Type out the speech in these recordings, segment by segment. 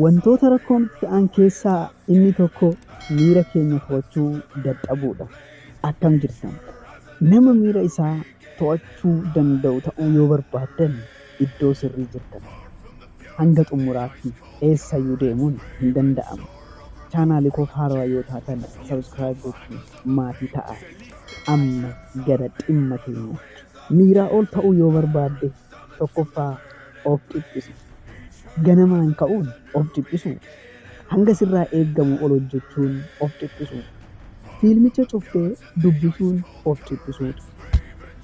Wantoota rakkoo nutti ta'an keessaa inni tokko miira keenya to'achuu dadhabuudha. Akkam jirtan? Nama miira isaa to'achuu danda'u ta'uu yoo barbaaddan iddoo sirrii jirtan. Hanga xumuraatti eessayyuu deemuun hin danda'amu. Chaanaalii koof haarawa yoo taatan subscribe gochuun maatii ta'aa. Amma gara dhimma keenyaatti. Miiraa ol ta'uu yoo barbaadde Tokkoffaa of dhiphisa. Ganamaan ka'uun of dhiphisuu, hanga sirraa eeggamu ol hojjechuun of dhiphisuu, fiilmicha cuftee dubbisuun of dhiphisuudha.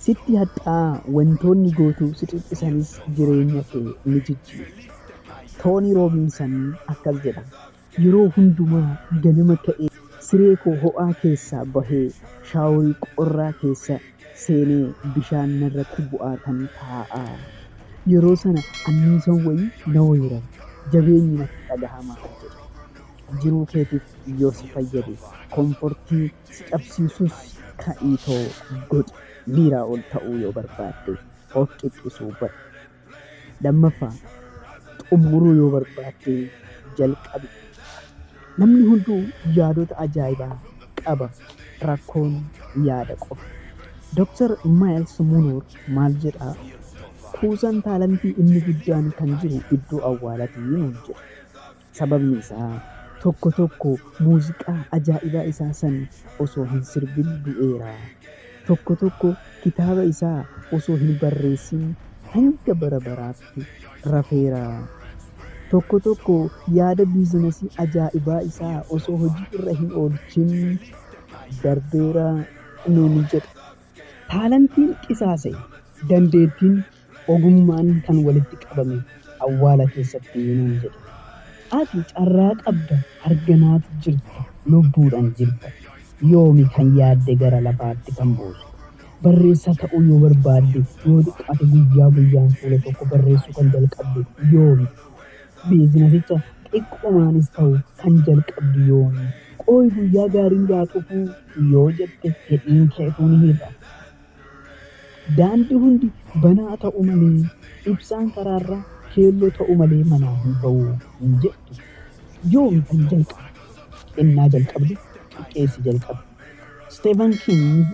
Sitti hadhaa'aa wantoonni gootu si dhiphisanis jireenya kee ni jijjiiru. Toonii Roobinsan akkas jedha. Yeroo hundumaa ganama ka'ee siree koo ho'aa keessaa bahee shaaworii qorraa keessa seenee bishaan narratti bu'aatan taa'a. Yeroo sana anniisan wayii na weerara, jabeenyi natti dhagahama, jedhe. Jiruu keetiif yoo si fayyade, komfortii si cabsiisus ka'iitoo godhi. Miiraa ol ta'uu yoo barbaadde of dhiphisuu bari. Lammaffaa, xumuruu yoo barbaadde jalqabi. Namni hunduu yaadota ajaa'ibaa qaba, rakkoon yaada qofa. Doktar Maayils Munoor maal jedha? Kuusaan taalantii inni guddaan kan jiru iddoo awwaalatii nuun jedha. Sababni isaa tokko tokko muuziqaa ajaa'ibaa isaa san osoo hin sirbin du'eera. Tokko tokko kitaaba isaa osoo hin barreessin hanga bara baraatti rafeera. Tokko tokko yaada biizinasii ajaa'ibaa isaa osoo hojii irra hin oolchin darbeera nuun jedha. Taalantiin qisaasa'e, dandeettiin Ogummaan kan walitti qabame awwaala keessatti nuun jedhe. Ati carraa qabda arganaat jirta lubbuudhan jirta yoomi kan yaadde gara lafaatti kan buusu. Barreessaa ta'uu yoo barbaadde yoo xiqqaate guyyaa guyyaan fuula tokko barreessuu kan jalqabdu yoomi? Biizinasicha xiqqumaanis ta'u kan jalqabdu yoomi? Qooy guyyaa gaariin yaa dhufuu yoo jette fedhiin kee utuu ni hir'a. Daandi hundi banaa ta'u malee, ibsaan karaarraa keelloo ta'u malee manaa hin ba'u hin jettu. Yoomi kan jalqabe? Ennaa jalqabdu xiqqeessi jalqabi. Stephen King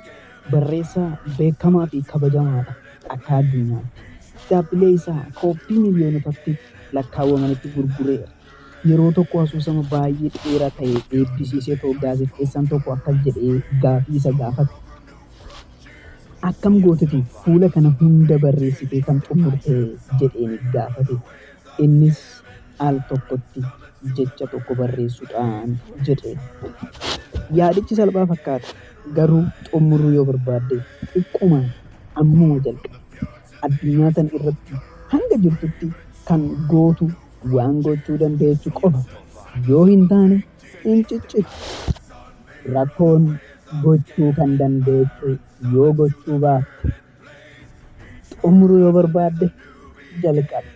barreessaa beekamaa fi kabajamaa dha akka addunyaatti. Kitaabbilee isaa kooppii miliyoonotatti lakkaawwamanitti gurgureera. Yeroo tokko asoosama baay'ee dheeraa ta'e eebbisiiseetoo gaazexeessaan tokko akkas jedhee gaafii isa gaafate. Akkam gooteti fuula kana hunda barreessitee kan xummurte? jedheen gaafate. Innis al tokkotti jecha tokko barreessuudhaan jedhe. Yaadichi salphaa fakkaata, garuu xummuruu yoo barbaadde xiqqoomaan ammuma jalqabi. Addunyaa tan irratti hanga jirtutti kan gootu waan gochuu dandeechu qofa yoo hin taane, hin ciccittu. Rakkoon gochuu kan dandeettu yoo gochuu baatte, xumuruu yoo barbaadde jalqabi.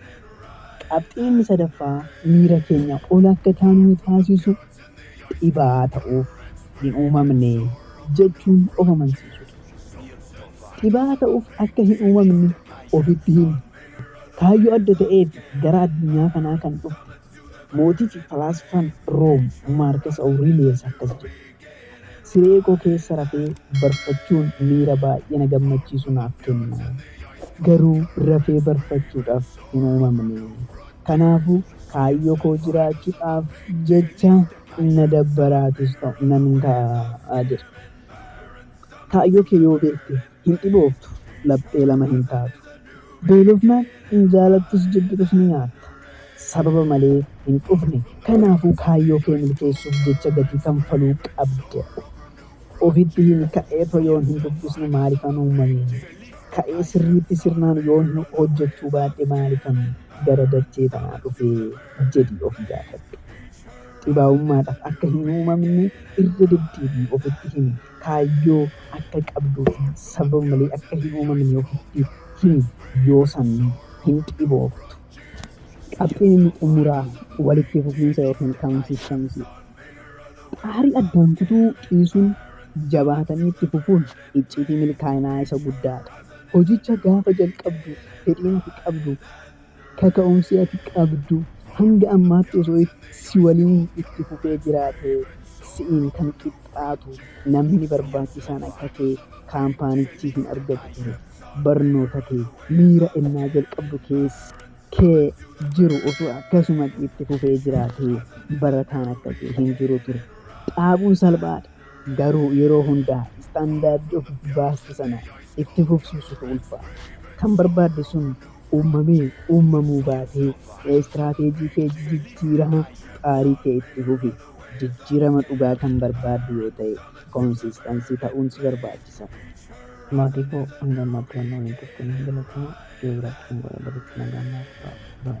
Qabxii inni sadaffaa miira keenya ol akka kaanu nu taasisu dhibaa'aa ta'uuf hin uumamne jechuun of amansiisuudha. Dhibaa'aa ta'uuf akka hin uumamne ofitti himi. Kaayyoo adda ta'eef gara addunyaa kanaa kan dhufte Mootichi, falaasfaan, Room, Maarkas Awuriiliyes akkas jedhe, Siree koo keessa rafee barfachuun miira baay'ee na gammachiisu naaf kenna. Garuu rafee barfachuudhaaf hin uumamne. Kanaafuu, kaayyoo koo jiraachuudhaaf jecha na dabbaraatis ta'u nan ka'a jedhe. Kaayyoo kee yoo beekte Hin dhibooftu, laphee lama hin taatu. Beelofnaan hin jaalattus jibbitus ni nyaatta. Sababa malee hin dhufne. Kanaafuu kaayyoo kee milkeessuuf jecha gatii kanfaluu qabda. Ofitti himi ka'eetoo yoon hin dubbisne maalifan uumame? Ka'ee sirriitti sirnaan yoon hojjechuu baadhe maalifan gara dachee tanaa dhufe? jedhii of gaafadhu. Dhibaa'ummaadhaaf akka hin uumamne irra deddeebi'ii ofitti himi. kaayyoo akka qabduu fi sababa malee akka hin uumamne ofitti himi, yoo san hin dhibooftu. Qabxiin inni xumuraa walitti fufiinsa ykn consistency dha. Xaarii addaan kutuu dhiisuun jabaatanii itti fufuun icciitii milkaa'inaa isa guddaa dha. Hojicha gaafa jalqabdu fedhiin ati qabdu Kaka'umsi ati qabdu hanga ammaatti osoo si waliin itti fufee jiraatee si'iin kan qixxaatu namni barbaachisaan akka kee kaampaanichii hin argatu ture. Barnoota kee miira ennaa jalqabdu keessa kee jiru osoo akkasumatti itti fufee jiraatee barataan akka kee hin jiru ture. Dhaabuun salphaadha. Garuu yeroo hunda standard of baaste sana itti fufsiisutu ulfaata. Kan barbaadde sun uummamee uummamuu baatee strategy kee jijjiiraa xaarii kee itti fufi. Jijjiirama dhugaa kan barbaaddu yoo ta'e consistency ta'uun si barbaachisa. Maatii koo hanga ammaatti waan na waliin turtaniif galatooma. Viidiyoo biraatti kan wal agarrutti nagaan naaf turaa. Bye.